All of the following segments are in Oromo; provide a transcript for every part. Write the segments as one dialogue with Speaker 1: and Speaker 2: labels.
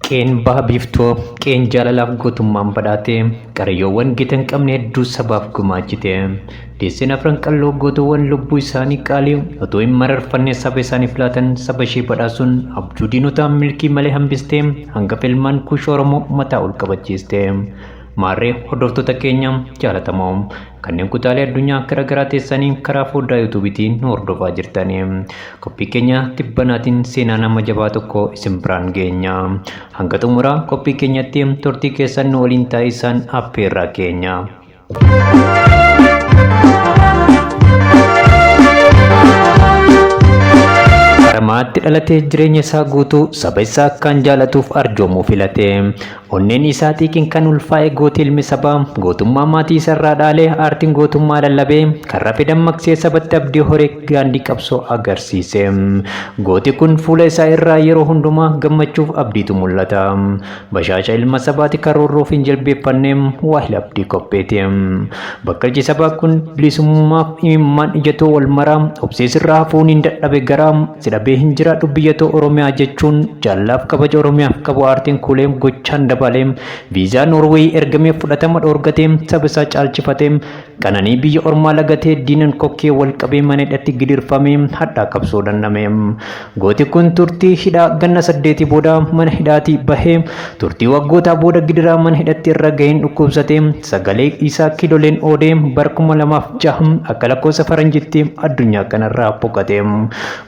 Speaker 1: Qeen baha biiftoo qeen jaalalaaf gootummaan badhaate qarayyoowwan gita hin qabne hedduu sabaaf gumaachite Deesseen afran qalloo gootowwan lubbuu isaanii qaalii otoo hin mararfanne saba isaaniif laatan saba ishee badhaasuun abjuu diinotaa milkii malee hambistee hangafa ilmaan kuush Oromoo mataa ol qabachiiste. Maarree hordoftoota keenya jaalatamoo kanneen kutaalee addunyaa gara garaa teessanii karaa foddaa yuutuubiitiin nu hordofaa jirtan qophii keenya tibbanaatiin seenaa nama jabaa tokko isin biraan geenya. Hanga xumuraa qophii keenyatti turtii keessan nu waliin taa'isaan affeerraa keenya. Baramaatti dhalatee jireenya isaa guutuu saba isaa akkaan jaalatuuf arjoomuu filate. Onneen isaa xiiqiin kan ulfaa'e gooti ilmi sabaa gootummaa maatii isarraa dhaalee aartiin gootummaa lallabee kan rafe dammaqsee sabatti abdii horee daandii qabsoo agarsiise. Gooti kun fuula isaa irraa yeroo hundumaa gammachuuf abdiitu mul'ata. Bashaaca ilma sabaati karoorroof hin jilbeeffanne waahila abdii qopheeti. Bakkalchi sabaa kun bilisummaaf imimmaan ijatoo wal maraa obsee sirraa hafuun hin dadhabe garaa si dhabee hin jiraadhu biyyatoo Oromiyaa jechuun jaallaaf kabaja Oromiyaaf qabu aartiin kuulee gochaan dabaalee viizaa Noorweeyii ergameef fudhatama dhoorgatee saba isaa caalchifatee Qananii biyya ormaa lagatee diinan kokkee wal qabee mana hidhatti gidirfamee hadhaa qabsoo dhandhame. Gooti kun turtii hidhaa ganna saddeetii booda mana hidhaatii bahee turtii waggootaa booda gidiraa mana hidhatti irra gaheen dhukkubsatee sagalee isaa kiiloleen oodee bara kuma lamaa fi ja'a akka lakkoofsa faranjitti addunyaa kanarraa boqate.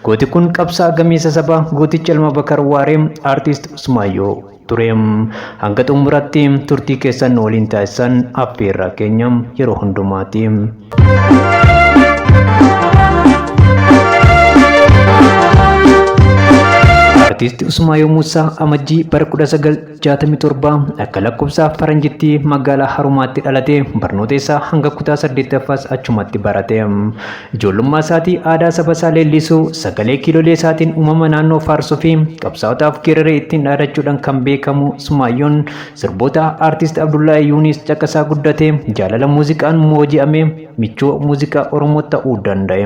Speaker 1: Gooti kun qabsaa'aa gameessa sabaa gooticha Ilma Bakar Waaree Artist Usmaayyoo. ture. Hanga xumuratti turtii keessan nu waliin taasisan affeerraa keenya yeroo hundumaati. Artiist Usmaayoo Muusaa Amajjii bara 1967 akka lakkoofsa faranjitti magaalaa Harumaatti dhalate barnoota isaa hanga kutaa 8ffaas achumatti barate. Ijoollummaa isaatii aadaa saba isaa leellisuu, sagalee kiilolee isaatiin uumama naannoo faarsuu fi qabsaa'otaaf geeraree ittiin dhaadachuudhaan kan beekamu Sumaayyoon sirboota Artist Abdullahi Yuuniis caqasaa guddatee jaalala muuziqaan mooji'amee michuu muuziqaa Oromoo ta'uu danda'e.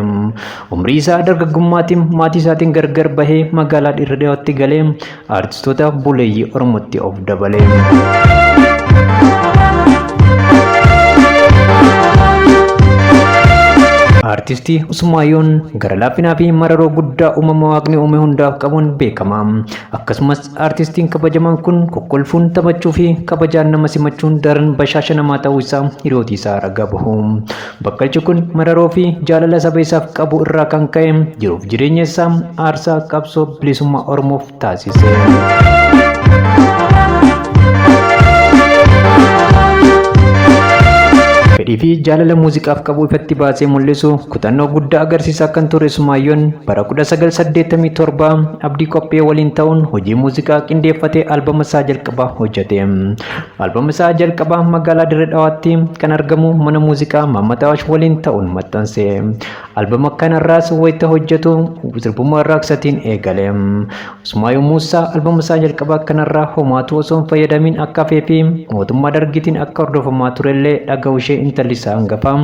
Speaker 1: Umrii isaa dargaggummaatiin maatii isaatiin gargar bahee magaalaa Dirre Dhawatti galee Artistoota buleeyyii Oromootti of dabale. Artistii Usmaayyoon gara laaffinaa fi mararoo guddaa uumama waaqni uume hundaaf qabuun beekama. Akkasumas artistiin kabajamaan kun kokkolfuun taphachuu fi kabajaan nama simachuun daran bashaasha namaa ta'uu isaa hiriyooti isaa ragaa bahu. Bakkalchi kun mararoo fi jaalala saba isaaf qabu irraa kan ka'e jiruuf jireenya isaa aarsaa qabsoo bilisummaa Oromoof taasise. Fedhii fi jaalala muuziqaaf qabu ifatti baasee mul'isu kutannoo guddaa agarsiisaa kan ture Sumaayyoon bara 1987 Abdii Qophee waliin ta'uun hojii muuziqaa qindeeffatee albama isaa jalqabaa hojjete. Albama isaa jalqabaa magaalaa Dirree Dhawaatti kan argamu mana muuziqaa Maammat Awaash waliin ta'uun maxxanse. Albama kanarraas wayita hojjetu sirbuma raaksatiin eegale. Usmaayoo Muusaa albama isaa jalqabaa kanarraa homaatu osoo hin fayyadamiin akka hafee fi mootummaa dargiitiin akka hordofamaa turellee dhaga'uu ishee intalli isaa hangafaa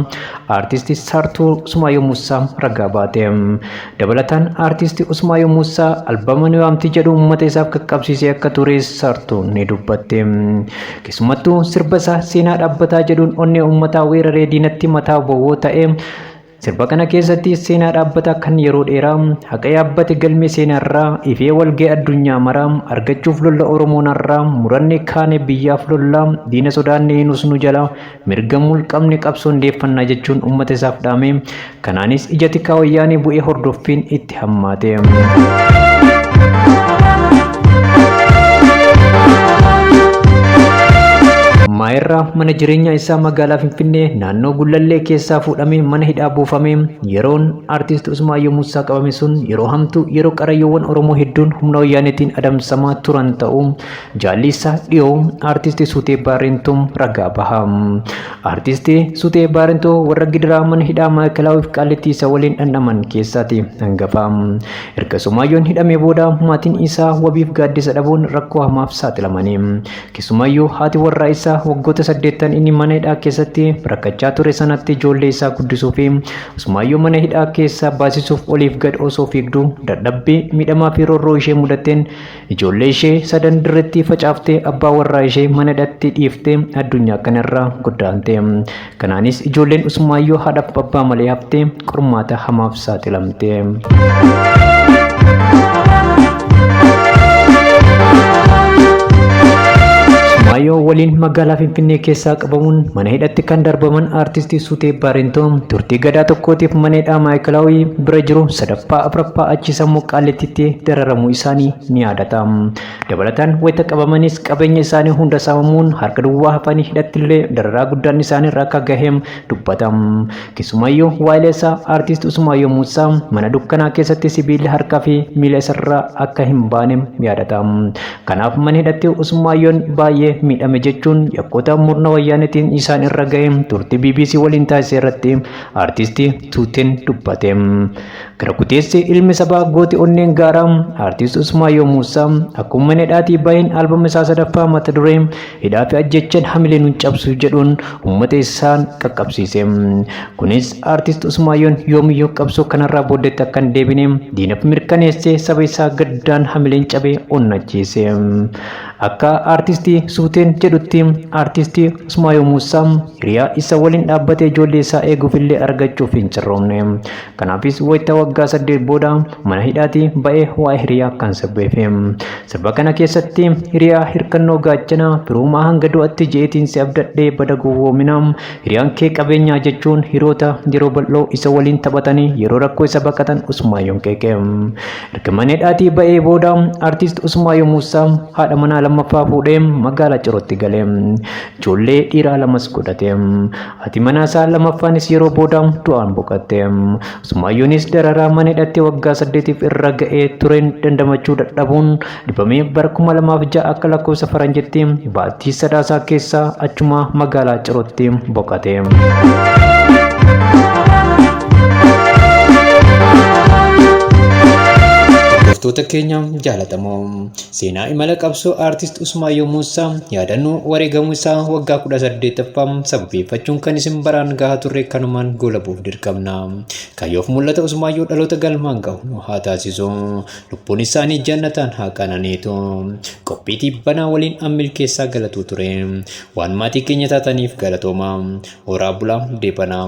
Speaker 1: aartisti Saartuu Usmaayoo Muusaa ragaa baate. Dabalataan Artisti Usmaayyoo Muussaa albama Ni Waamti jedhu uummata isaaf qaqqabsiisee akka tures sartuun ni dubbatte. Keessumattuu sirba isaa Seenaa Dhaabbataa jedhuun onnee uummataa weeraree diinatti mataa bowwoo ta'e. Sirba kana keessatti seenaa dhaabbataa kan yeroo dheeraa haqa yaabbate galmee seenaarraa ifee walga'e addunyaa maraa argachuuf lolla Oromoon har'aa muranne kaane biyyaaf lollaa diina sodaanne hin usnu jalaa Mirga mulqamne qabsoo hundeeffannaa jechuun uummata isaaf dhaame. Kanaanis ija tikaa wayyaanee bu'ee hordoffiin itti hammaate. Maayirraa mana jireenyaa isaa magaalaa Finfinnee naannoo Gullallee keessaa fuudhamee mana hidhaa buufame yeroon artiist Usmaayyoo Muusaa qabame sun yeroo hamtuu yeroo qarayyoowwan Oromoo hedduun humna wayyaaneetiin adamsamaa turan ta'uu Jaalli isaa dhiyoo aartisti Sutee Baarentuu ragaa baha. Aartisti Sutee Baarentuu warra gidiraa mana hidhaa Maa'ikalaawif Qaallittii isa waliin dhandhaman keessaati hangafa. Erga Sumaayyoon hidhamee booda maatiin isaa wabiif gaaddisa dhabuun rakkoo hamaaf saaxilamani. Keessumaayyuu haati warraa isaa waggoota saddeettan inni mana hidhaa keessatti rakkachaa ture sanatti ijoollee isaa guddisuu fi Sumaayyoo mana hidhaa keessaa baasisuuf oliif gad osoo fiigduu dadhabbii miidhamaa fi roorroo ishee mudateen Ijoollee ishee sadan dirretti facaaftee abbaa warraa ishee mana hidhatti dhiiftee addunyaa kanarraa goddaante. Kanaanis ijoolleen Usmaayyoo haadhaaf abbaa malee haftee qormaata hamaaf saaxilamte. Usmaayyoo waliin magaalaa Finfinnee keessaa qabamuun mana hidhatti kan darbaman aartistii Suutee Baarintoo turtii gadaa tokkootiif mana hidhaa Maayikalaawii bira jiru sadaffaa afraffaa achi sammuu qaallitti itti dararamuu isaanii ni yaadata. Dabalataan wayita qabamanis qabeenya isaanii hunda saamamuun harka duwwaa hafanii hidhattillee dararaa guddaan isaanirra akka gahe dubbata. Keessumaayyuu waa'ila isaa Artiist Usumaayyoo Muusaa mana dukkanaa keessatti sibiilli harkaa fi miila isarraa akka hin baane yaadata. Kanaaf mana hidhatti Usmaayyoon baay'ee miidhame jechuun yakkoota murna wayyaanetiin isaan irra gahe turtii bbc waliin taasise irratti Artiist Tuuteen dubbate. Gara kuteessi ilmi sabaa gooti onneen gaaraa Artiist Usmaayyoo Muusaa akkuma mana hidhaatii bahin albama isaa sadaffaa mata duree hidhaa fi ajjechan hamilee nun cabsu jedhuun ummata isaan qaqqabsiise. Kunis Artiist Usmaayyoon yoomiyyuu qabsoo kanarraa booddeetti akka hin deebine diinaf mirkaneessee saba isaa gaddaan hamileen cabee onnachiise. Akka Artiist Suuteen jedhutti Artiist Usmaayyoo Muusaa hiriyaa isa waliin dhaabbatee ijoollee isaa eeguuf illee argachuuf hin carroomne. Kanaafis wayita waggaa saddeet booda mana hidhaatii ba'ee waa'ee hiriyaa akkan sirbeefi. Sirba kana keessatti hiriyaa hirkannoo gaachana firoomaa hanga du'atti je'eetiin si abdadhee bada gowwoomina. Hiriyaan kee qabeenyaa jechuun hiroota yeroo bal'oo isa waliin taphatanii yeroo rakkoo isa baqatan Usmaayyoon qeeqe. Erga mana hidhaatii ba'ee booda artiist Usmaayyoo Muussaa haadha manaa lammaffaa fuudhee magaalaa Cirootti gale. Ijoollee dhiiraa lamas godhate. Haati manaa isaa lamaffaanis yeroo booda du'aan boqatte. Usmaayyoonis dararaa mana hidhatti waggaa saddeetiif irra ga'ee tureen dandamachuu dadhabuun dhibamee bara kuma lamaaf ja'a akka lakkoofsa faranjitti baatii sadaasaa keessa achuma magaalaa Cirootti boqate. Hordoftoota keenya jaalatamoo Seenaa imala qabsoo Aartist Usmaayyoo Muusaa yaadannoo wareegamuu isaa waggaa 18ffaa sababeeffachuun kan isin baraan gahaa turre kanumaan goolabuuf dirqamna. Kaayyoof mul'ata Usmaayyoo dhaloota galmaan gahu nu haa taasisu. Lubbuun isaanii jannataan haa qananiitu. Qophii tiibbanaa waliin an milkeessaa galatuu ture. Waan maatii keenya taataniif galatooma. Horaa bulaa deebanaa.